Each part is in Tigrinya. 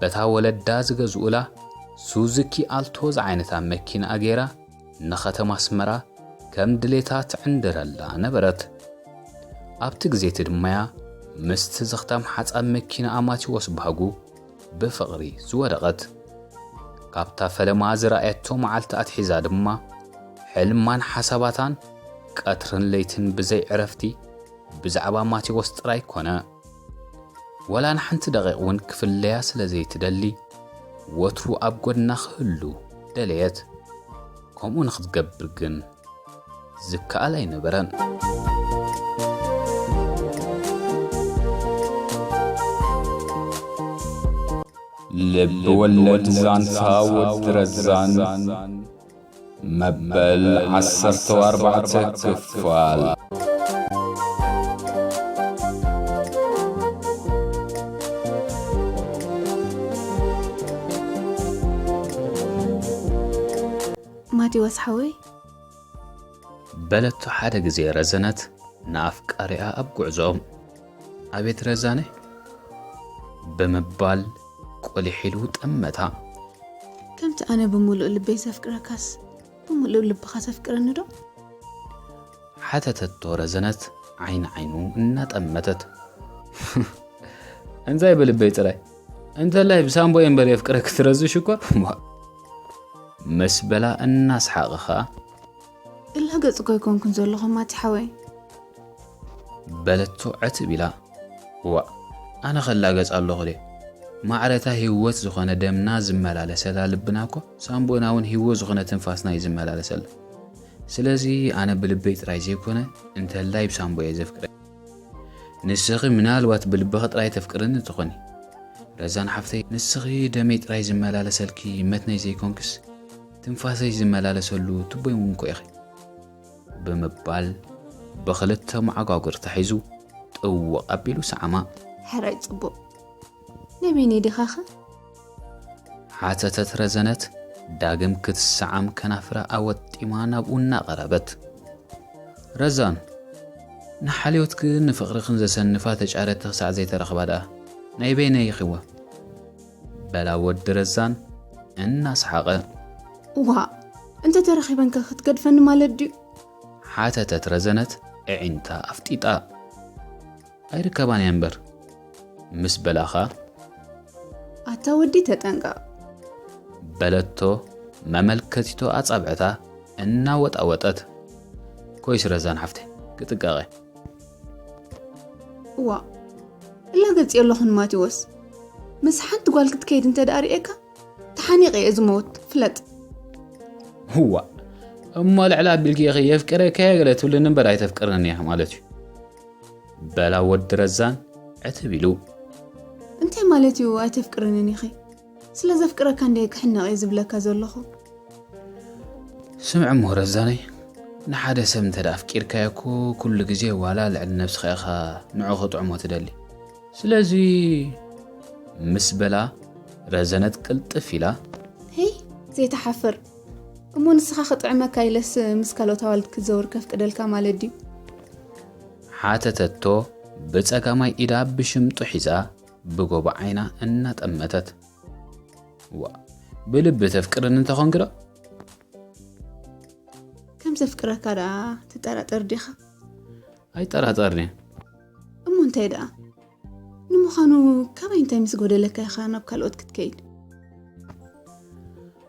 በታ ወለዳ ዝገዝኡላ ሱዙኪ ኣልቶ ዝዓይነታ መኪንኣ ገይራ ንኸተማ ኣስመራ ከም ድሌታ ትዕንድረላ ነበረት። ኣብቲ ግዜቲ ድማ'ያ ምስቲ ዘኽታም ሓጻብ መኪንኣ ማቲዎስ ባህጉ ብፍቕሪ ዝወደቐት። ካብታ ፈለማ ዝረኣየቶ መዓልቲ ኣትሒዛ ድማ ሕልማን ሓሳባታን ቀትርን ለይትን ብዘይ ዕረፍቲ ብዛዕባ ማቴዎስ ጥራይ ኮነ። ወላ ንሓንቲ ደቒቕ እውን ክፍለያ ስለ ዘይትደሊ፣ ወትሩ ኣብ ጐድና ክህሉ ደለየት። ከምኡ ንኽትገብር ግን ዝከኣል ኣይነበረን። ልብ ወለድ ዛንታ ወዲ ረዛን። መበል ዓሰርተው ኣርባዕተ ክፋል ማቴዎስ ሓወይ በለቶ ሓደ ግዜ ረዘነት ንኣፍቃሪኣ ኣብ ጉዕዞ። ኣቤት ረዛነ! ብምባል ቁሊሕ ኢሉ ጠመታ። ከምቲ ኣነ ብምሉእ ልበይ ዘፍቅረካስ ብምሉእ ልብኻ ተፍቅረኒዶ? ሓተተቶ ረዘነት ዓይኒ ዓይኑ እናጠመተት። እንታይ ብልበይ ጥራይ እንተላይ ብሳምቦ እምበር የፍቅረኪ ትረዚ ሽኮር ምስ በላ እናስሓቐ ኸኣ እላ ገጽ እኮ ኣይኮንኩን ዘለኹ ማቲ ሓወይ። በለቶ ዕትብ ኢላ። ዋእ ኣነ ከ እላገጽ ኣለኹ ድየ? ማዕረ እታ ህይወት ዝኾነ ደምና ዝመላለሰላ ልብና እኮ ሳንቡእና እውን ህይወት ዝኾነ ትንፋስና እዩ ዝመላለሰላ። ስለዚ ኣነ ብልበይ ጥራይ ዘይኮነ እንተላይ ብሳንቡእ እየ ዘፍቅረ። ንስኺ ምናልባት ብልብኺ ጥራይ ተፍቅርኒ ትኾኒ ረዛን ሓፍተይ፣ ንስኺ ደመይ ጥራይ ዝመላለሰልኪ መትነይ ዘይኮንክስ፣ ትንፋሰሽ ዝመላለሰሉ ቱቦይ እውን እኮ ኢኺ። ብምባል ብኽልተ መዓጓጉር ተሒዙ ጥውቕ ኣቢሉ ሰዓማ። ሕራይ ጽቡቕ ናይ በይነይ ዲኻኸ? ሓተተት ረዘነት ዳግም ክትሰዓም ከናፍራ ኣወጢማ ናብኡ እናቐረበት። ረዛን ንሓልዮትክን ንፍቕርኽን ዘሰንፋ ተጫረቲ ክሳዕ ዘይተረኽባ ደኣ ናይ በይነይ ኢኺወ። በላ ወዲ ረዛን እናሰሓቐ። ዋእ! እንተ ተረኺበንከ ክትገድፈኒ ማለት ድዩ? ሓተተት ረዘነት ኣዒንታ ኣፍጢጣ። ኣይርከባን እየን እምበር ምስ በላኻ። ኣታ ወዲ ተጠንቀቕ! በለቶ መመልከቲቶ ኣጻብዕታ እናወጣወጠት። ኮይስ ረዛን ሓፍተይ ክጥንቀቐ። እዋ እላገጽዮ ኣለኹ ንማቴዎስ ምስ ሓንቲ ጓል ክትከይድ እንተ ደኣ ርእየካ ተሓኒቐ እየ ዝመውት ፍለጥ እዋ እሞ ልዕሊ ኣቢልኪ ኢኺ የፍቅረካ እየ ገለ ትብልኒ እምበር ኣይተፍቅርንን እያ ማለት እዩ በላ ወዲ ረዛን ዕትብ ኢሉ እንታይ ማለት እዩ ኣይተፍቅርንን ኢኺ ስለ ዘፍቅረካ እንድየ ክሕነቕ እየ ዝብለካ ዘለኹ። ስምዕ'ሞ ረዛነይ፣ ንሓደ ሰብ እንተ ኣፍቂርካዮ እኮ ኩሉ ግዜ ዋላ ልዕሊ ነብስኻ ኢኻ ንዕኡ ክጥዕሞ ትደሊ። ስለዚ ምስ በላ ረዘነት ቅልጥፍ ኢላ። ሄይ ዘይትሓፍር! እሞ ንስኻ ክጥዕመካ ኢለስ ምስ ካልኦት ኣዋልድ ክትዘውር ከፍቅደልካ ማለት ድዩ? ሓተተቶ ብጸጋማይ ኢዳ ብሽምጡ ሒዛ። ብጎቦ ዓይና እናጠመተት ዋ ብልቢ ተፍቅርን እንተኾንኪ ዶ ከም ዘፍቅረካ ደኣ ትጠራጠር ዲኻ ኣይጠራጠርኒ እሞ እንታይ ደኣ ንምዃኑ ካባይ እንታይ ምስ ጎደለካ ኢኻ ናብ ካልኦት ክትከይድ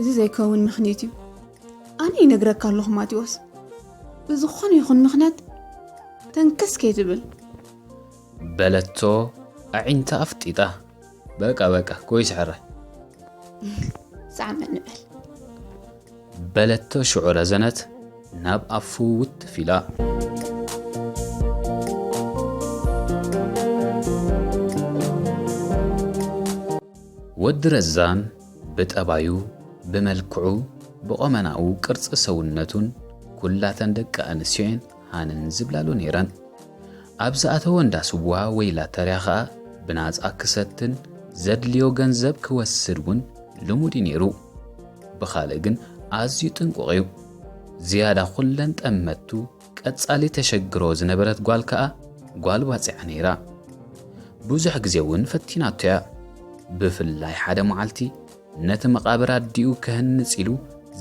እዚ ዘይከውን ምክኒት እዩ ኣነ ይነግረካ ኣለኹ ማቴዎስ ብዝኾነ ይኹን ምክንያት ተንከስ ከይትብል በለቶ ኣዒንታ ኣፍጢጣ በቃ በቃ ጎይ ስሕራይ ዛዕመ ንበል በለቶ ሽዑ ረዘነት ናብ ኣፉ ውትፍ ኢላ ወዲ ረዛን ብጠባዩ፣ ብመልክዑ፣ ብቆመናኡ ቅርጺ ሰውነቱን ኩላተን ደቂ ኣንስትዮ'የን ሃነን ዝብላሉ ነይረን። ኣብ ዝኣተዎ እንዳ ስዋ ወይ ላተርያ ከኣ ብናጻ ክሰትን ዘድልዮ ገንዘብ ክወስድ እውን ልሙድ'ዩ ነይሩ። ብኻልእ ግን ኣዝዩ ጥንቁቕ'ዩ። ዝያዳ ኩለን ጠመቱ ቀጻሊ ተሸግሮ ዝነበረት ጓል ከኣ ጓል ባጽዓ ነይራ። ብዙሕ ግዜ እውን ፈቲናቶ እያ። ብፍላይ ሓደ መዓልቲ ነቲ መቓብር ኣዲኡ ከህንጽ ኢሉ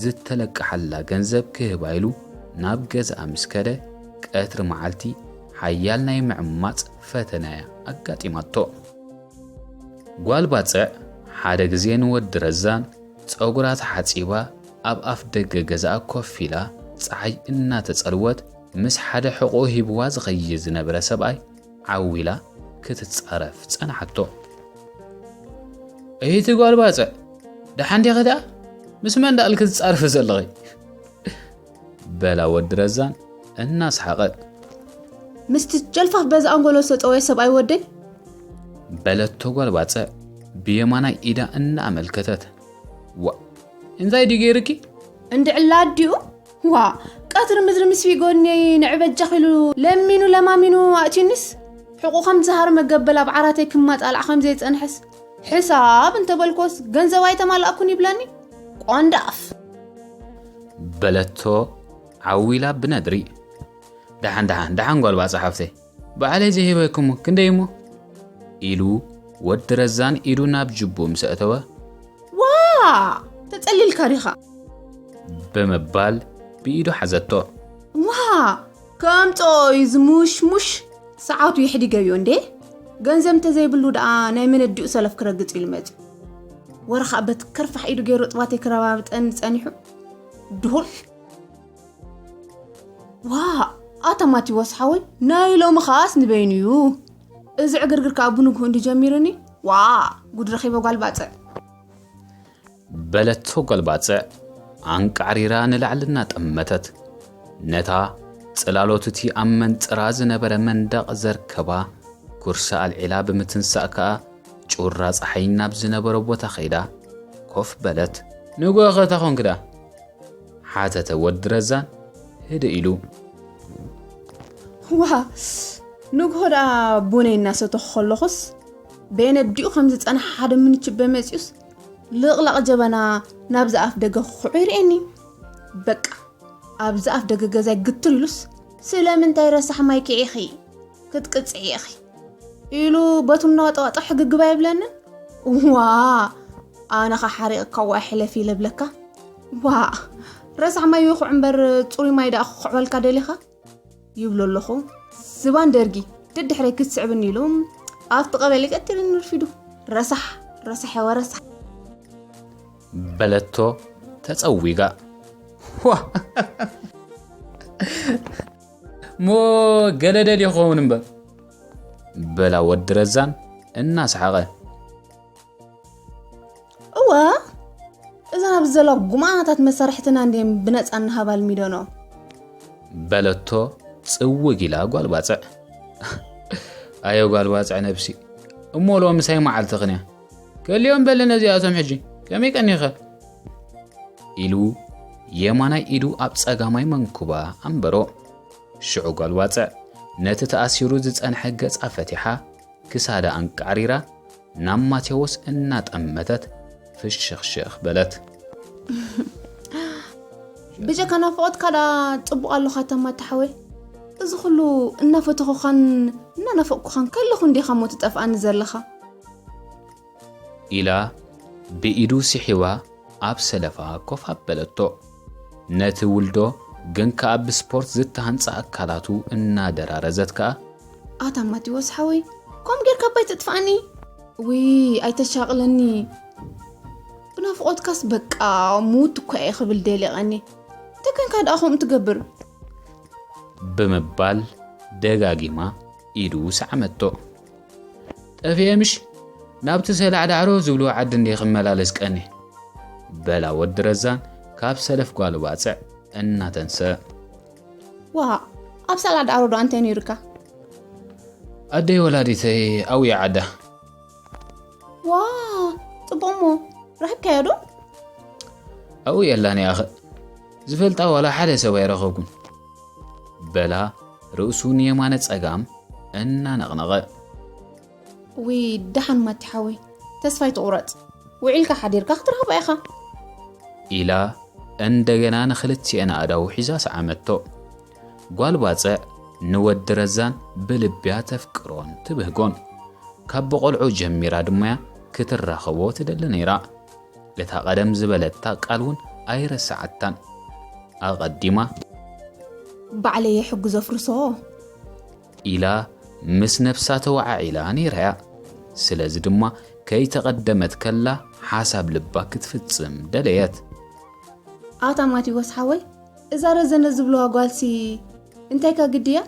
ዝተለቀሓላ ገንዘብ ክህባ ኢሉ ናብ ገዛኣ ምስ ከደ ቀትሪ መዓልቲ ሓያል ናይ ምዕማጽ ፈተነ እያ ኣጋጢማቶ። ጓል ባጽዕ ሓደ ግዜ ንወዲ ረዛን ጸጉራ ተሓጺባ ኣብ ኣፍ ደገ ገዛኣ ኮፍ ኢላ ጸሓይ እናተጸልወት ምስ ሓደ ሕቖኡ ሂብዋ ዝኸይድ ዝነበረ ሰብኣይ ዓው ኢላ ክትጻረፍ ጸንሓቶ። እይቲ ጓል ባጽዕ ደሓን ዲኺ ደኣ ምስ መን ደኣልኪ ትጻርፊ ዘለኺ? በላ ወዲ ረዛን እናስሓቐት። ምስቲ ጨልፋፍ በዚ ኣንጎሎ ዝተጠወየ ሰብኣይ ወደይ? በለቶ ጓል ባጸዕ ብየማናይ ኢዳ እናኣመልከተት። ዋ እንታይ ድዩ ገይርኪ? እንድዕላ ኣዲኡ ዋ ቀትሪ ምድሪ ምስ ፊጎኒ ንዕበጃ ኺሉ ለሚኑ ለማሚኑ ኣእትዩኒስ ሕቁ ከም ዝሃርመ ገበል ኣብ ዓራተይ ክማጣላዕ ከም ዘይጸንሐስ ሕሳብ እንተበልኮስ ገንዘብ ኣይተማላእኩን ይብለኒ ቆንዳፍ። በለቶ ዓው ኢላ ብነድሪ። ደሓን ደሓን ደሓን ጓል ባጽዕ ሓፍተይ ባዕለይ ዘይህበክሙ ክንደይ እሞ ኢሉ ወዲ ረዛን ኢዱ ናብ ጅቡ ምስ ኣእተወ ዋ ተጸሊልካ ዲኻ ብምባል ብኢዱ ሓዘቶ። ዋ ከምጽኦ እዩ ዝሙሽሙሽ ሰዓቱ የሕዲገዮ እንዴ ገንዘብ እንተዘይብሉ ደኣ ናይ መነዲኡ ሰለፍ ክረግጽ ኢሉ መጺኡ ወረ ከዓ በቲ ከርፋሕ ኢዱ ገይሩ እፅዋተይ ክረባብጠኒ ጸኒሑ ድሁል ዋእ ኣታ ማቴዎስ ሓወይ ናይ ሎሚ ከኣስ ንበይኑ እዩ እዚ ዕግርግር ከዓ ብንግሁ እንዲ ጀሚሩኒ ዋ ጉድ ረኺበ ጓል ባጽዕ በለቶ ጓል ባጽዕ ኣንቃዕሪራ ንላዕሊ እናጠመተት። ነታ ጽላሎት'ቲ ኣብ መንጽራ ዝነበረ መንደቕ ዘርከባ ኩርሲ ኣልዒላ ብምትንሳእ ከኣ ጩራ ጸሓይ ናብ ዝነበሮ ቦታ ከይዳ ኮፍ በለት። ንግሆ'ኸ እታ ኾንክ ድኣ? ሓተተ ወዲ ረዛን ህድእ ኢሉ። ዋእ! ንግሆ ድኣ ቡነይ እናሰተኹ ከለኹስ በየነዲኡ ከም ዝጸንሓ ሓደ ምንችበ መጺኡስ ልቕላቕ ጀበና ናብዚ ኣፍ ደገ ክኹዑ ይርእየኒ በቃ ኣብዚ ኣፍ ደገ ገዛይ ግትሉስ ስለምንታይ ረሳሕ ማይ ኪዒኺ ክትቅፅዒ ኢኺ ኢሉ በቱ እናዋጠዋጠ ሕግግባ የብለንን ዋ ኣነ ኸ ሓሪቕካ ዋ ሕለፊ ኢለ ብለካ ዋ ረሳሕ ማይ ይኹዕ እምበር ፅሩይ ማይ ደኣ ክኹዕበልካ ደሊኻ ይብሎ ኣለኹ ዝባን ደርጊ ደድሕረይ ክትስዕብኒ ኢሉ ኣብቲ ቀበሌ ቀትሪ ንርፊዱ ረሳሕ ረሳሐ ወረሳሕ በለቶ ተጸዊጋ ሞ ገለ ደልዩ ክኸውን እምበር በላ ወዲ ረዛን እናሰሓቐ እወ እዘን ኣብዚ ዘለዋ ጉማናታት መሳርሕትና እንድየን ብነፃ እናሃባ ልሚደኖ በለቶ ፅውግ ኢላ ጓል ባፅዕ ኣየ ጓል ባፅዕ ነብሲ እሞ ሎሚ ሳይ መዓልቲ ክንያ ከልዮም በለ ነዚኣቶም ሕጂ ከመይ ቀኒኸ ኢሉ የማናይ ኢዱ ኣብ ጸጋማይ መንኩባ ኣንበሮ ሽዑ ጓል ባፅዕ ነቲ ተኣሲሩ ዝጸንሐ ገጻ ፈቲሓ ክሳዳ ኣንቃዕሪራ ናብ ማቴዎስ እናጠመተት ፍሽኽሽኽ በለት። ብጀካ ናፍቖትካ ደኣ ጽቡቕ ኣሎኻ ተማ ተሓወይ እዚ ኩሉ እናፈተኹኻን እናናፈቕኩኻን ከለኹ እንዲኻ እሞ ትጠፍኣኒ ዘለኻ ኢላ ብኢዱ ስሒባ ኣብ ሰለፋ ኮፍ ኣበለቶ። ነቲ ውልዶ ግን ከኣ ብስፖርት ዝተሃንጸ ኣካላቱ እናደራረዘት ከኣ ኣታ ማቲዎስ ሓወይ ከምኡ ጌርካ እባ ኣይተጥፍኣኒ ውይ ኣይተሻቕለኒ ብናፍቖትካስ በቃ ሙት እኳ እየ ክብል ደሊቐኒ ተከንካ ደኣ ከምኡ ትገብር ብምባል ደጋጊማ ኢዱ ሰዓመቶ ጠፍኤ ምሽ ናብቲ ሰላዕዳዕሮ ዝብልዎ ዓዲ እንዴ ክመላለስ ቀኒ በላ ወዲ ረዛን ካብ ሰለፍ ጓሉ ባፅዕ እናተንሰ ዋእ ኣብ ሰላድ ኣሮዶ ኣንታይ ነይሩካ። ኣደይ ወላዲተይ ኣውያ ዓዳ። ዋእ ጽቡቅ እሞ ረክብካዮ ዶ። ኣብኡ የላን እያ ኸእ ዝፈልጣ ዋላ ሓደ ሰብ ኣይረኸብኩን። በላ ርእሱ ንየማነ ጸጋም እናነቕነቐ። ውይ ደሓን ማቲ ሓወይ ተስፋ ኣይትቑረፅ ውዒልካ ሓዲርካ ክትረኽባ ኢኻ። ኢላ እንደገና ንኽልቲኤን ኣእዳዉ ሒዛ ሰዓመቶ። ጓል ባጽዕ ንወዲ ረዛን ብልቢያ ተፍቅሮን ትብህጎን። ካብ ብቆልዑ ጀሚራ ድማያ ክትራኸቦ ትደሊ ነይራ። እታ ቀደም ዝበለታ ቃል ውን ኣይረሰዓታን። ኣቐዲማ። ባዕለየ ሕጉ ዘፍርሶ። ኢላ ምስ ነብሳ ተወዓዒላ ነይራ'ያ። ስለዚ ድማ ከይተቐደመት ከላ ሓሳብ ልባ ክትፍጽም ደለየት። ኣታ ማቲዎስ ሓወይ እዛ ረዘነ ዝብልዋ ጓልሲ እንታይካ ግዲ'ያ?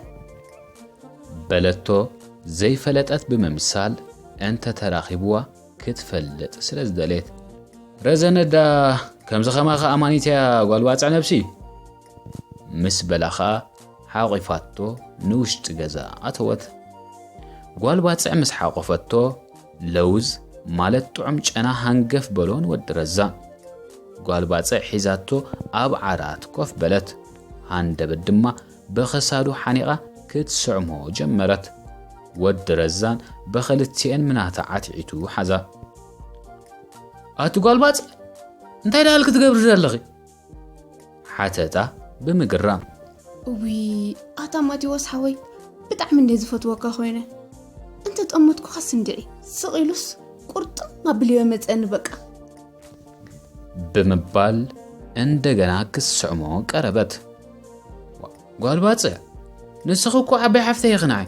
በለቶ ዘይፈለጠት ብምምሳል እንተ ተራኺብዋ ክትፈልጥ ስለ ዝደለየት። ረዘነ ድኣ ከምዚ ከማኺ ኣማኒት'ያ ጓል ባጽዕ ነብሲ። ምስ በላ ኸኣ ሓቚፋቶ ንውሽጢ ገዛ ኣተወት። ጓል ባጽዕ ምስ ሓቖፈቶ ለውዝ ማለት ጥዑም ጨና ሃንገፍ በሎ ንወዲ ረዛ። ጓል ባጽዕ ሒዛቶ ኣብ ዓራት ኮፍ በለት። ሃንደበት ድማ ብኽሳዱ ሓኒቓ ክትስዕሞ ጀመረት። ወዲ ረዛን ብኽልቲኤን ምናታ ዓትዒቱ ሓዛ። ኣቲ ጓል ባጽዕ እንታይ ደኣል ክትገብሪ ዘለኺ? ሓተታ ብምግራም። እውይ ኣታ ማቴዎስ ሓወይ ብጣዕሚ እንደ ዝፈትወካ ኮይነ እንተ ጠመትኩኻ ስንድዒ ስቕ ኢሉስ ቁርጥም ኣብልዮ መፀኒ በቃ ብምባል እንደገና ክስዕሞ ቀረበት። ጓል ባፅዕ ንስኺ እኮ ዓባይ ሓፍተይ ይኽንዓይ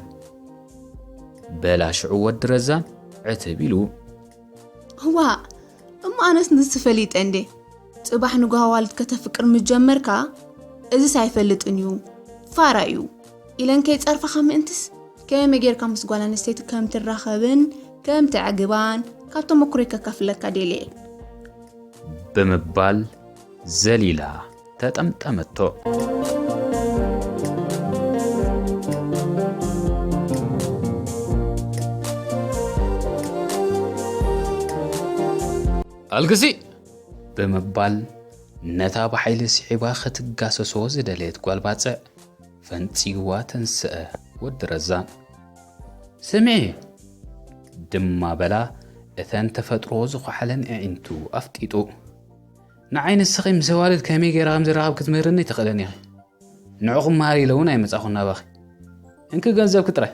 በላ ሽዑ ወዲ ረዛን ዕትብ ኢሉ ዋእ እሞ ኣነስ ንስ ፈሊጠ እንዴ ጽባሕ ንጓዋልት ከተፍቅር ምጀመርካ እዚስ ኣይፈልጥን እዩ ፋራ እዩ ኢለን ከይጸርፋኻ ምእንትስ ከመይ ጌርካ ምስ ጓል ኣንስተይቲ ከም ትራኸብን ከም ትዕግባን ካብ ተመክሮይ ከካፍለካ ደልየ ብምባል ዘሊላ ተጠምጠመቶ። ኣልግሲ ብምባል ነታ ብሓይሊ ስዒባ ኸትጋሰሶ ዝደለየት ጓል ባፅዕ ፈንፂዋ ተንስአ ወዲ ረዛ ስምዒ ድማ በላ እተን ተፈጥሮ ዝኳሓለን ኣዒንቱ ኣፍጢጡ ንዓይ ንስኺ ምስ ኣዋልድ ከመይ ገይረ ከም ዝራኸብ ክትምህርኒ ኣይትኽእልን ኢኺ ንዑ ክመሃር ኢለ እውን ኣይመጻኹን ናባኺ እንኪ ገንዘብኪ ጥራይ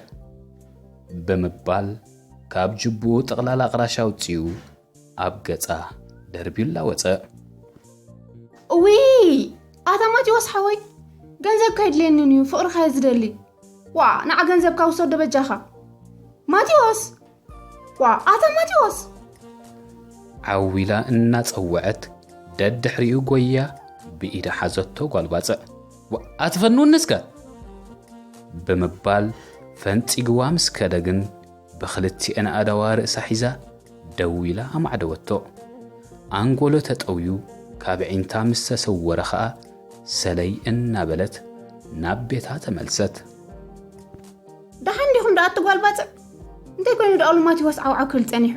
ብምባል ካብ ጅቡኡ ጥቕላላ ቅራሽ ኣውፂኡ ኣብ ገፃ ደርቢላ ወፀ እዊ ኣታ ማቴዎስ ሓወይ ገንዘብ ከይድልየንን እዩ ፍቕርካ ዝደሊ ዋ ንዓ ገንዘብካ ውሰዶ በጃኻ ማቴዎስ ዋ ኣታ ማቴዎስ ዓው ኢላ እናጸወዐት ደድሕሪኡ ጎያ ብኢዳ ሓዘቶ ጓል ባጽዕ ኣትፈንውኒ እስከ ብምባል ፈንፂግዋ ምስ ከደ ግን ብኽልቲኤን ኣእዳዋ ርእሳ ሒዛ ደው ኢላ ኣማዕደወቶ ኣንጎሎ ተጠውዩ ካብ ዒንታ ምስ ተሰወረ ኸኣ ሰለይ እናበለት ናብ ቤታ ተመልሰት ደሓን ዲኹም ደኣ እቲ ጓል ባጽዕ? እንታይ ኮይኑ ደኣ ሉማቲዎስ ዓውዓው ክብል ጸኒሑ?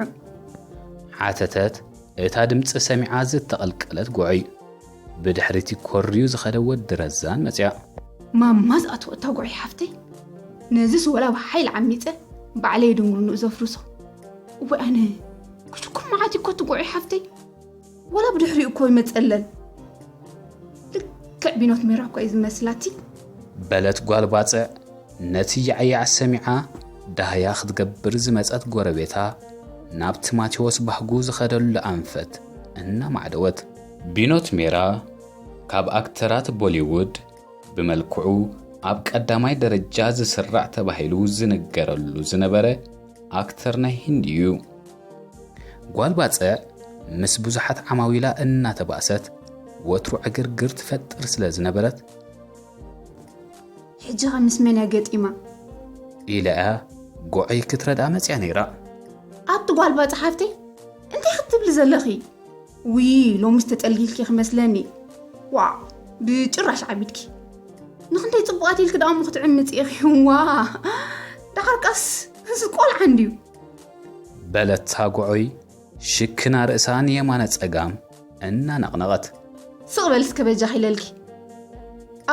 ሓተተት እታ ድምጺ ሰሚዓ ዝተቐልቀለት ጉዑይ። ብድሕሪቲ ኮርዩ ዝኸደ ወዲ ረዛን መጽኣ። ማማ ዝኣትዎ እታ ጉዑይ ሓፍተይ፣ ነዝስ ወላ ብሓይሊ ዓሚጸ ባዕለይ ድንጉርንኡ ዘፍርሶ። እዋይ ኣነ! ጉድኩም መዓት'ዩ'ኮ እቲ ጉዑይ ሓፍተይ! ወላ ብድሕሪኡ እኮ ይመፀለን ልክዕ ቢኖት ሜራ እኮ እዩ ዝመስላቲ በለት ጓል ባፅዕ ነቲ ያዕያዕ ሰሚዓ ዳህያ ክትገብር ዝመፀት ጎረቤታ ናብቲ ማቴዎስ ባህጉ ዝኸደሉ ኣንፈት እናማዕደወት ቢኖት ሜራ ካብ ኣክተራት ቦሊውድ ብመልክዑ ኣብ ቀዳማይ ደረጃ ዝስራዕ ተባሂሉ ዝንገረሉ ዝነበረ ኣክተር ናይ ሂንዲ እዩ። ጓል ባጽዕ ምስ ብዙሓት ዓማዊላ እናተባእሰት ወትሩ ዕግርግር ትፈጥር ስለ ዝነበረት ሕጂ ኸ ምስ መን እያ ገጢማ? ኢላ እያ ጎዐይ ክትረድኣ መጺኣ ነይራ። ኣቲ ጓል ባጽዕ ሓፍተይ እንታይ ክትብሊ ዘለኺ? ውይ ሎምስ ተጠልጊልኪ ክመስለኒ ዋእ ብጭራሽ ዓቢድኪ ንክንደይ ጽቡቓት ኢልኪ ደኣ እሞ ክትዕምጺ ኢኺ ዋ ደሓር ቀስ እዚ ቆልዓ እንድዩ በለታ ጉዑይ ሽክና ርእሳ ንየማነ ጸጋም እናነቕነቐት። ስቕ በሊ እስከ በጃኺ ኢለልኪ።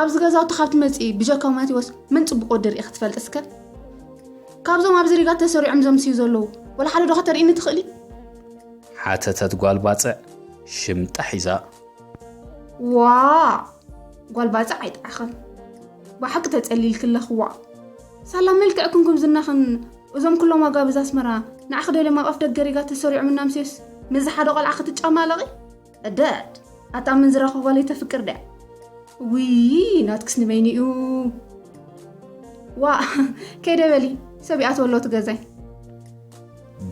ኣብዚ ገዛውቲ ካብ ትመጺ ብጀካ ማቴዎስ መን ጽቡቕ ወዲ ርኢኺ ትፈልጢ እስከ? ካብዞም ኣብዚ ሪጋ ተሰሪዖም ዘምስዩ ዘለዉ ወላ ሓደ ዶ ከተርእይኒ ትኽእሊ? ሓተተት ጓል ባጽዕ ሽምጣ ሒዛ። ዋ ጓል ባጽዕ ኣይጥዓኸን ብሓቂ ተጸሊልኪ ኣለኽዋ ሳላ መልክዕ ክንኩም ዝናኽን እዞም ኩሎም ኣጋብዝ ኣስመራ ንዓኺ ደልዮም ኣብ ኣፍ ደገ ሪጋ ተሰሪዖም እና ኣምስዮስ ምስዚ ሓደ ቆልዓ ክትጫማለቒ እደድ ኣታ ኣመንዝራኹ ጓለይ ተፍቅር ድያ ውይይ ናትክስ ንበይኑ እዩ ዋእ ከይደ በሊ ሰብ ይኣትዎ ኣሎ እቲ ገዛይ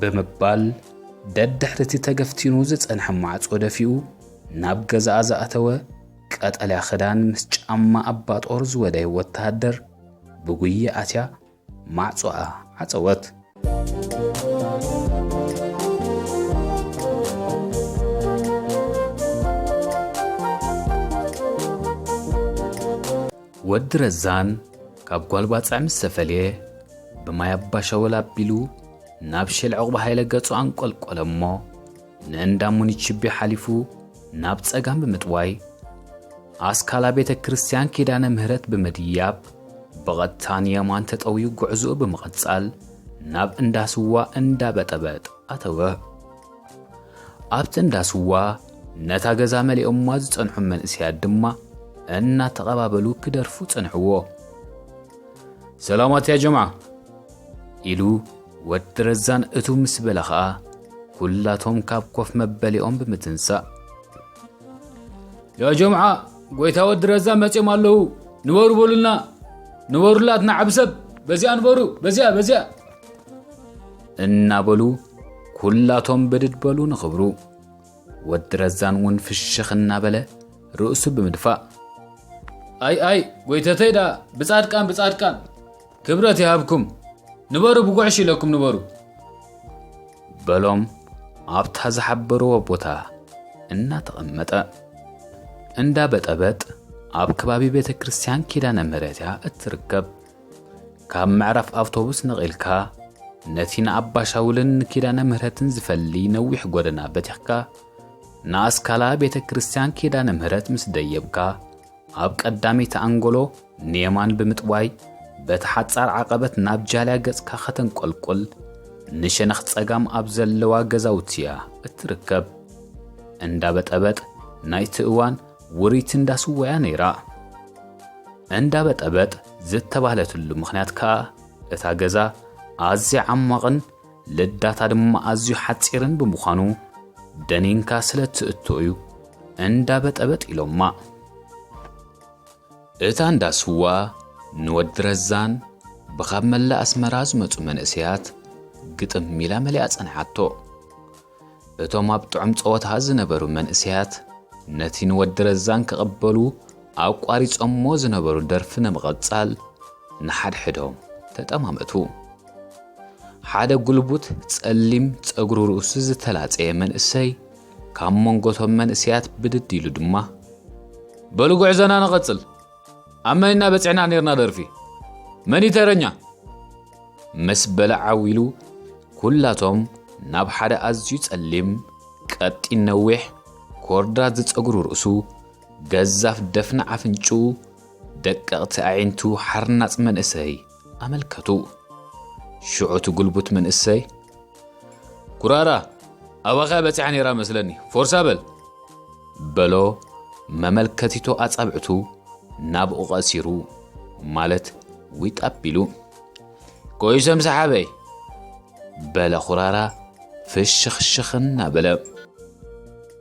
ብምባል ደድሕሪ እቲ ተገፍቲኑ ዝጸንሐ ማዕጾ ደፊኡ ናብ ገዛኣ ዝኣተወ ቀጠልያ ክዳን ምስ ጫማ ኣባ ጦር ዝወደየ ወተሃደር ብጉየ ኣትያ ማዕጾኣ ዓጸወት። ወዲ ረዛን ካብ ጓል ባጽዕ ምስ ተፈልየ ብማይ ኣባሻወል ኣቢሉ ናብ ሼል ዕቝባ ሃይለ ገጹ ኣንቈልቈለ እሞ ንእንዳ ሙኒችቤ ሓሊፉ ናብ ጸጋም ብምጥዋይ ኣስካላ ቤተ ክርስቲያን ኪዳነ ምህረት ብምድያብ ብቐጥታ ንየማን ተጠውዩ ጉዕዝኡ ብምቕጻል ናብ እንዳ ስዋ እንዳ በጠበጥ ኣተወ። ኣብቲ እንዳ ስዋ ነታ ገዛ መሊኦማ ዝጸንሑ መንእሰያት ድማ እናተቐባበሉ ክደርፉ ጸንሕዎ። ሰላማት ያ ጀምዓ ኢሉ ወዲ ረዛን እቱ ምስ በለ ኸኣ ኩላቶም ካብ ኮፍ መበሊኦም ብምትንሳእ ያ ጀምዓ ጎይታ ወዲ ረዛ መፅኦም ኣለዉ ንበሩ በሉልና ንበሩላ ትናዓብ ሰብ በዚኣ ንበሩ በዚኣ በዚኣ እናበሉ ኩላቶም ብድድ በሉ ንኽብሩ ወዲ ረዛን እውን ፍሽኽ እናበለ ርእሱ ብምድፋእ ኣይ ኣይ ጎይተተይ ደኣ ብፃድቃን ብፃድቃን ክብረት ይሃብኩም ንበሩ ብጉዕሽ ኢለኩም ንበሩ በሎም ኣብታ ዝሓበርዎ ቦታ እናተቐመጠ እንዳ በጠበጥ ኣብ ከባቢ ቤተ ክርስቲያን ኪዳነ ምሕረት እያ እትርከብ ካብ ምዕራፍ ኣውቶቡስ ነቒልካ ነቲ ንኣባሻውልን ንኪዳነ ምህረትን ዝፈሊ ነዊሕ ጎደና በቲኽካ ንኣስካላ ቤተ ክርስቲያን ኪዳነ ምህረት ምስ ደየብካ ኣብ ቀዳመይቲ ኣንጎሎ ንየማን ብምጥዋይ በቲ ሓጻር ዓቐበት ናብ ጃልያ ገጽካ ከተንቆልቁል ንሸነኽ ጸጋም ኣብ ዘለዋ ገዛውቲ እያ እትርከብ። እንዳ በጠበጥ ናይቲ እዋን ውርይቲ እንዳ ስዋ እያ ነይራ። እንዳ በጠበጥ ዝተባህለትሉ ምኽንያት ከኣ እታ ገዛ ኣዝያ ዓሟቕን ልዳታ ድማ ኣዝዩ ሓጺርን ብምዃኑ ደኒንካ ስለ እትእቶ እዩ እንዳ በጠበጥ ኢሎማ። እታ እንዳ ስዋ ንወዲ ረዛን ብኻብ መላእ ኣስመራ ዝመጹ መንእሰያት ግጥም ኢላ መሊኣ ጸንሓቶ። እቶም ኣብ ጥዑም ጸወታ ዝነበሩ መንእሰያት ነቲ ንወዲ ረዛን ክቕበሉ ኣቋሪጾሞ ዝነበሩ ደርፊ ንምቐጻል ንሓድሕዶም ተጠማመቱ። ሓደ ጉልቡት ጸሊም ጸጉሩ ርእሱ ዝተላጸየ መንእሰይ ካብ መንጎቶም መንእሰያት ብድድ ኢሉ ድማ በሉ ጉዕዞና ንቐጽል ኣብ መን ኢና በጺሕና ነርና ደርፊ መን ተረኛ ምስ በለ ዓው ኢሉ ኩላቶም ናብ ሓደ ኣዝዩ ጸሊም፣ ቀጢን ነዊሕ፣ ኮርዳት ዝጸጉሩ ርእሱ፣ ገዛፍ ደፍኒ ኣፍንጭኡ፣ ደቀቕቲ ኣዒንቱ ሓርናጽ መንእሰይ ኣመልከቱ። ሽዑ እቲ ጉልቡት መንእሰይ፣ ኩራራ ኣባኻ በጺሓ ነይራ መስለኒ ፎርሳ በል በሎ መመልከቲቶ ኣጻብዕቱ ናብኡ ቀሲሩ ማለት ዊጥ ኣቢሉ ቆይሰም ሰሓበይ በለ ኩራራ ፍሽኽሽኽ እናበለ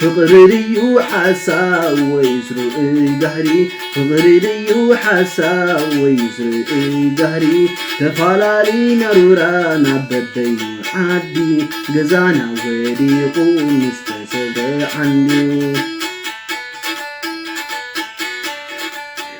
ፍቅሪ ድዩ ሓሳብ ወይስ ርኡይ ጋህሪ ፍቅሪ ድዩ ሓሳብ ወይስ ርኡይ ጋህሪ ተፋላሊና ሩራ ናብ በበይኑ ዓዲ ገዛና ወዲቁ ምስ ተሰብረ ዓንዱ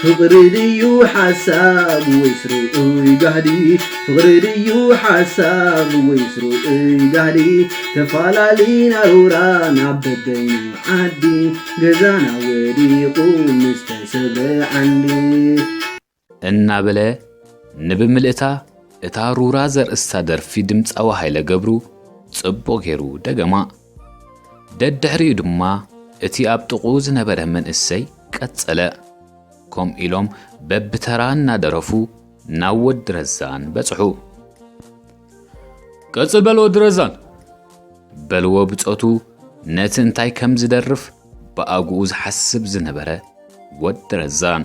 ፍቅሪ ድዩ ሓሳብ ወይስ ርኡይ ጋህዲ ፍቅሪ ድዩ ሓሳብ ወይስ ርኡይ ጋህዲ ተፋላሊና ሩራ ናብ በበይኑ ዓዲ ገዛና ወዲቁ ምስ ተሰብረ ዓንዲ እናበለ ንብምልእታ እታ ሩራ ዘርእስታ ደርፊ ድምጻዊ ሃይለ ገብሩ ጽቡቕ ጌሩ ደገማ። ደድሕሪኡ ድማ እቲ ኣብ ጥቕኡ ዝነበረ መንእሰይ ቀጸለ። ከምኡ ኢሎም በብተራ እናደረፉ ናብ ወዲ ረዛን በጽሑ። ቀጽል በል ወዲ ረዛን በልዎ ብጾቱ ነቲ እንታይ ከም ዝደርፍ ብኣግኡ ዝሓስብ ዝነበረ ወዲ ረዛን።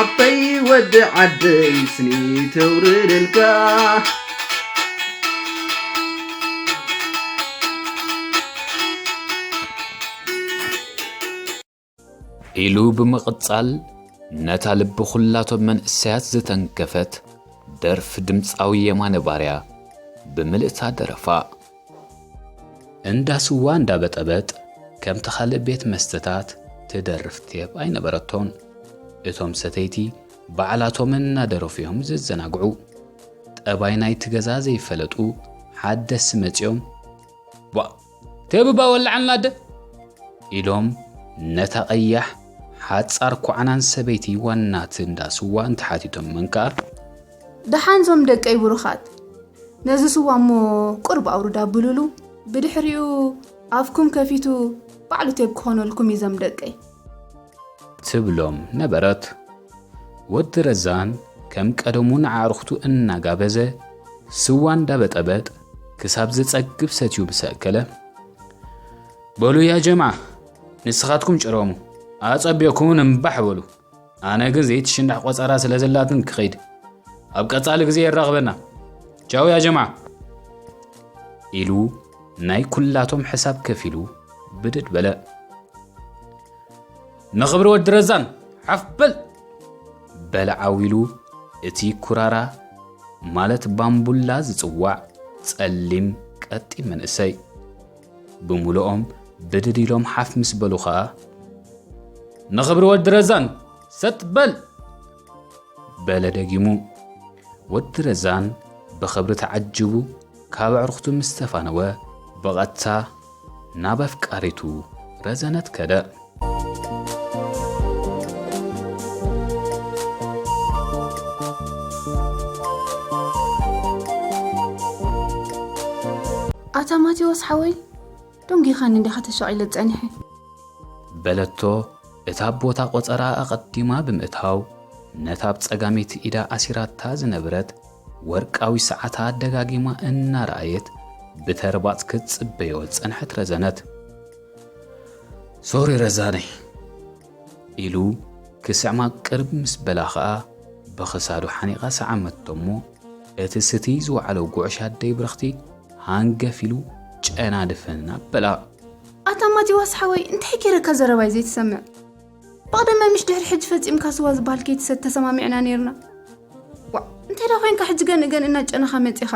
ዓበይ ወዲ ዓደይ ስኒ ተውርደልካ ኢሉ ብምቕጻል ነታ ልቢ ኹላቶም መንእሰያት ዝተንከፈት ደርፊ ድምፃዊ የማነ ባርያ ብምልእታ ደረፋ። እንዳ ስዋ እንዳ በጠበጥ ከምቲ ካልእ ቤት መስተታት ትደርፍ ቴፕ ኣይነበረቶን። እቶም ሰተይቲ ባዕላቶም እናደረፉ እዮም ዝዘናግዑ። ጠባይ ናይቲ ገዛ ዘይፈለጡ ሓደስቲ መጺኦም ቧእ ቴብባ ወላዓልና ኣደ ኢሎም ነታ ቀያሕ ሓጻር ኳዕናን ሰበይቲ ዋናት እንዳ ስዋ እንተሓቲቶመን ከኣ ደሓን ዞም ደቀይ ብሩኻት ነዚ ስዋ እሞ ቁርብ ኣውርድ ኣብሉሉ ብድሕሪኡ ኣፍኩም ከፊቱ ባዕሉ ቴብ ክኾነልኩም እዩ ዞም ደቀይ ትብሎም ነበረት። ወዲ ረዛን ከም ቀደሙ ንኣዕርኽቱ እናጋበዘ ስዋ እንዳበጠበጥ ክሳብ ዝጸግብ ሰትዩ ምስ ኣከለ በሉ ያ ጀምዓ ንስኻትኩም ጭረሙ ኣጸቢቕኩምን እምባሕ በሉ ኣነ ግን ዘይትሽናሕ ቆጸራ ስለ ዘላትን ክኸይድ ኣብ ቀጻሊ ግዜ የራኽበና ቻው ያ ጀማዓ ኢሉ ናይ ኩላቶም ሕሳብ ከፊሉ ብድድ በለ ንኽብሪ ወዲ ረዛን ሓፍ በል በለ ዓዊሉ እቲ ኩራራ ማለት ባምቡላ ዝጽዋዕ ጸሊም ቀጢን መንእሰይ ብምሉኦም ብድድ ኢሎም ሓፍ ምስ በሉ ኸኣ ንኽብሪ ወዲ ረዛን ሰጥ በል በለ ደጊሙ ወዲ ረዛን ብኽብሪ ተዓጅቡ ካብ ኣዕርኽቱ ምስ ተፋነወ ብቐጥታ ናብ ኣፍቃሪቱ ረዘነት ከደ ኣታ ማቴዎስ ሓወይ ዶንጊኻኒ እንዲኻ ተሻቒለ ጸኒሐ በለቶ እታ ቦታ ቆጸራ ኣቐዲማ ብምእታው ነታ ኣብ ጸጋሚት ኢዳ ኣሲራታ ዝነብረት ወርቃዊ ሰዓታ ደጋጊማ እናረኣየት ብተርባጽ ክትጽበዮ ጸንሐት ረዘነት ሶሪ ረዛነይ ኢሉ ክስዕማ ቅርብ ምስ በላ ኸኣ ብኽሳዱ ሓኒቓ ሰዓመቶ እሞ እቲ ስቲ ዝወዓሎ ጉዕሽ ኣደይ ብርኽቲ ሃንገፍ ኢሉ ጨና ድፍን ኣበላ። ኣታ ማቲዋስ ሓወይ እንታይ ገይረካ ዘረባይ ዘይትሰምዕ ብቕደመ ምሽ ድሕሪ ሕጂ ፈጺምካ ስዋ ዝበሃል ከይትሰት ተሰማሚዕና ነይርና ዋዕ እንታይ ዳ ኮንካ ሕጂ ገንእገን እናጨነኻ መጺኻ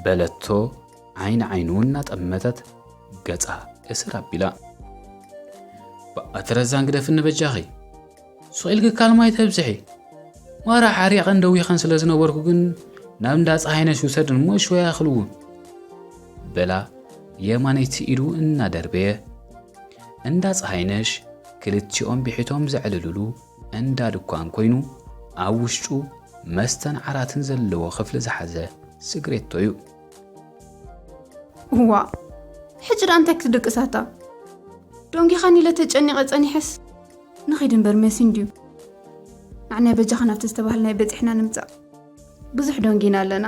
በለቶ ዓይኒ ዓይኑ እናጠመተት ገጻ እስር ኣቢላ ብኣቲ ረዛን ግደፍኒ በጃኺ ሱቕ ኢልክካል ማይ ተብዝሒ ማራ ሓሪቐን ደዊኸን ስለ ዝነበርኩ ግን ናብ እንዳ ፀሓይነሽ ውሰድን እሞ ሽወያ ክልውን በላ የማነይቲ ኢዱ እናደርበየ እንዳ ፀሓይነሽ ክልቲኦም ብሒቶም ዘዕልልሉ እንዳ ድኳን ኮይኑ ኣብ ውሽጡ መስተን ዓራትን ዘለዎ ክፍሊ ዝሓዘ ስግሬቶ እዩ እዋ ሕጂ ደኣ እንታይ ክትድቅሳታ ዶንጊኻኒ ኢለ ተጨኒቐ ጸኒሐስ ንኺድ እምበር መሲ እንድዩ ኣዕናይ በጃኻ ናብቲ ዝተባህልና በፂሕና ንምፃእ ብዙሕ ዶንጊና ኣለና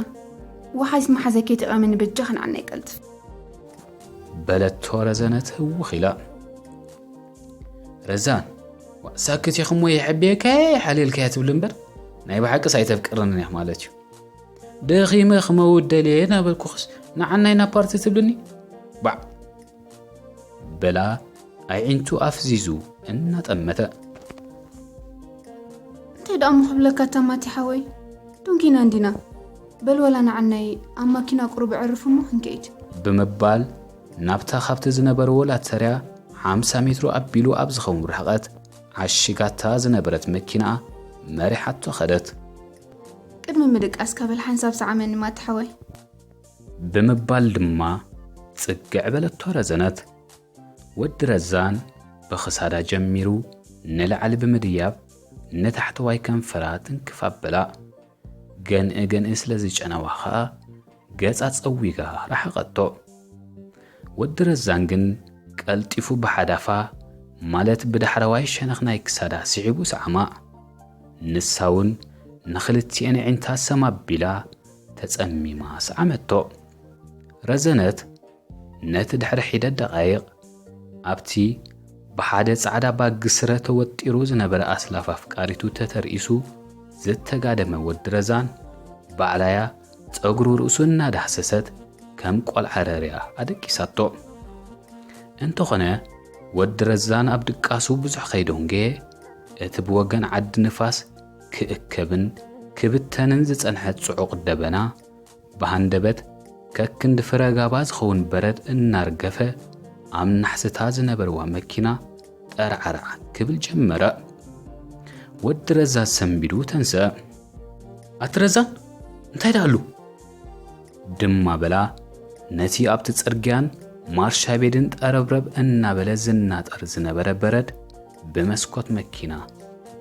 ወሓይስ መሓዘ ከይትቐመኒ በጃኻ ንዓናይ ቀልት በለቶ ረዘነት ህውኽ ኢላ ረዛን ሳክት ኢኹም ወይ የሕብየካየ ሓሊልካየ ትብል እምበር ናይ ብሓቂስ ኣይተፍቅርንን እያ ማለት እዩ ደኺመ ክመውት ደልየ እናበልኩኽስ ንዓናይ ናብ ፓርቲ ትብልኒ ባዕ በላ ኣዒንቱ ኣፍዚዙ እናጠመተ እንታይ ደኣ ምክብለካ ተማቲ ሓወይ ዱንኪና እንዲና በል ወላ ንዓናይ ኣብ ማኪና ቁሩብ ዕርፍ እሞ ክንከይድ ብምባል ናብታ ካብቲ ዝነበርዎ ላተርያ ሓምሳ ሜትሮ ኣቢሉ ኣብ ዝኸውን ርሕቐት ዓሽጋታ ዝነበረት መኪናኣ መሪሓቶ ኸደት ቅድሚ ምድቃስካ በል ሓንሳብ ሰዓመኒ ማቲ ሓወይ። ብምባል ድማ ጽግዕ በለቶ ረዘነት። ወዲ ረዛን ብኽሳዳ ጀሚሩ ንላዕሊ ብምድያብ ንታሕተዋይ ከንፈራ ትንክፍ ኣበላ። ገንኢ ገንኢ ስለ ዝጨነዋ ከኣ ገጻ ጸዊጋ ረሓቐቶ። ወዲ ረዛን ግን ቀልጢፉ ብሓዳፋ ማለት ብዳሕረዋይ ሸነኽ ናይ ክሳዳ ስሒቡ ሰዓማ። ንሳውን ንኽልቲኤን ኣዒንታ ሰም ኣቢላ ተጸሚማ ሰዓመቶ። ረዘነት ነቲ ድሕሪ ሒደት ደቓይቕ ኣብቲ ብሓደ ጻዕዳ ባግ ስረ ተወጢሩ ዝነበረ ኣስላፍ ኣፍቃሪቱ ተተርኢሱ ዝተጋደመ ወዲ ረዛን፣ ባዕላ'ያ ጸጉሩ ርእሱ እናዳህሰሰት ከም ቆልዓ ረርያ ኣደቂሳቶ። እንተኾነ ወዲ ረዛን ኣብ ድቃሱ ብዙሕ ከይደንጎየ፣ እቲ ብወገን ዓዲ ንፋስ ክእከብን ክብተንን ዝጸንሐ ጽዑቕ ደበና፣ ብሃንደበት ከክንዲ ፍረ ጋባ ዝኸውን በረድ እናርገፈ ኣብ ናሕስታ ዝነበርዋ መኪና ጠርዓራዕ ክብል ጀመረ። ወዲ ረዛ ሰንቢዱ ተንስአ። ኣቲ ረዛ እንታይ ደኣሉ? ድማ በላ ነቲ ኣብቲ ጽርግያን ማርሻ ቤድን ጠረብረብ እናበለ ዝናጠር ዝነበረ በረድ ብመስኮት መኪና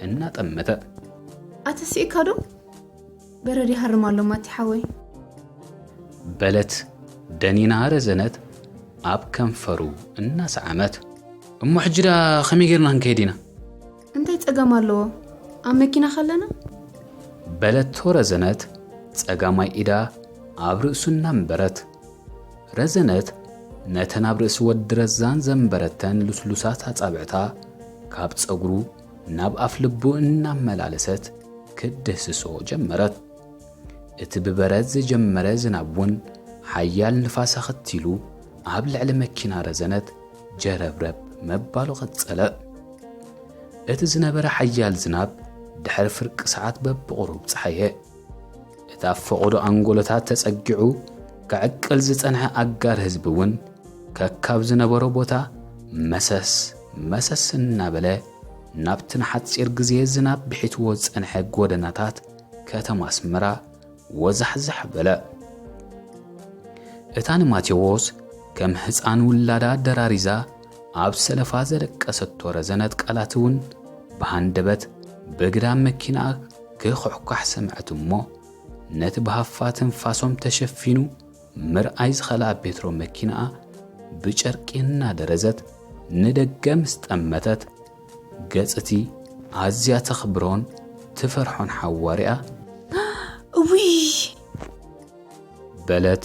እናጠመተ ኣተሲእካዶ በረድ ይሃርም ኣሎ ማቲ ሓወይ። በለት ደኒና ረዘነት ኣብ ከንፈሩ እናሰዓመት። እሞ ሕጂ ደኣ ከመይ ጌርና ክንከይድ ኢና? እንታይ ጸገም ኣለዎ ኣብ መኪና ከለና? በለቶ ረዘነት ጸጋማይ ኢዳ ኣብ ርእሱ እናንበረት። ረዘነት ነተን ኣብ ርእሲ ወዲ ረዛን ዘንበረተን ልስሉሳት ኣጻብዕታ ካብ ጸጉሩ ናብ ኣፍ ልቡ እናመላለሰት ክትድህስሶ ጀመረት። እቲ ብበረድ ዝጀመረ ዝናብ እውን ሓያል ንፋስ ኣኸቲሉ ኣብ ልዕሊ መኪና ረዘነት ጀረብረብ መባሉ ቀጸለ። እቲ ዝነበረ ሓያል ዝናብ ድሕሪ ፍርቂ ሰዓት በብቑሩብ ጸሓየ። እቲ ኣብ ፈቐዶ ኣንጎሎታት ተጸጊዑ ከዕቅል ዝጸንሐ ኣጋር ህዝቢ እውን ከካብ ዝነበሮ ቦታ መሰስ መሰስ እናበለ ናብቲ ንሓጺር ግዜ ዝናብ ብሒትዎ ዝጸንሐ ጎደናታት ከተማ ኣስመራ ወዛሕዛሕ በለ። እታ ንማቴዎስ ከም ህፃን ውላዳ ደራሪዛ ኣብ ሰለፋ ዘለቀሰቶ ረዘነት ቃላት'ውን ብሃንደበት በግዳም መኪናኣ ክኹሕኳሕ ሰምዐት እሞ፣ ነቲ ብሃፋ ትንፋሶም ተሸፊኑ ምርኣይ ዝኸልኣ ቤትሮ መኪናኣ ብጨርቂ እናደረዘት ንደገ ምስ ጠመተት፣ ገጽ'ቲ ኣዝያ ተኽብሮን ትፈርሖን ሓዋርያ፣ እውይ! በለት።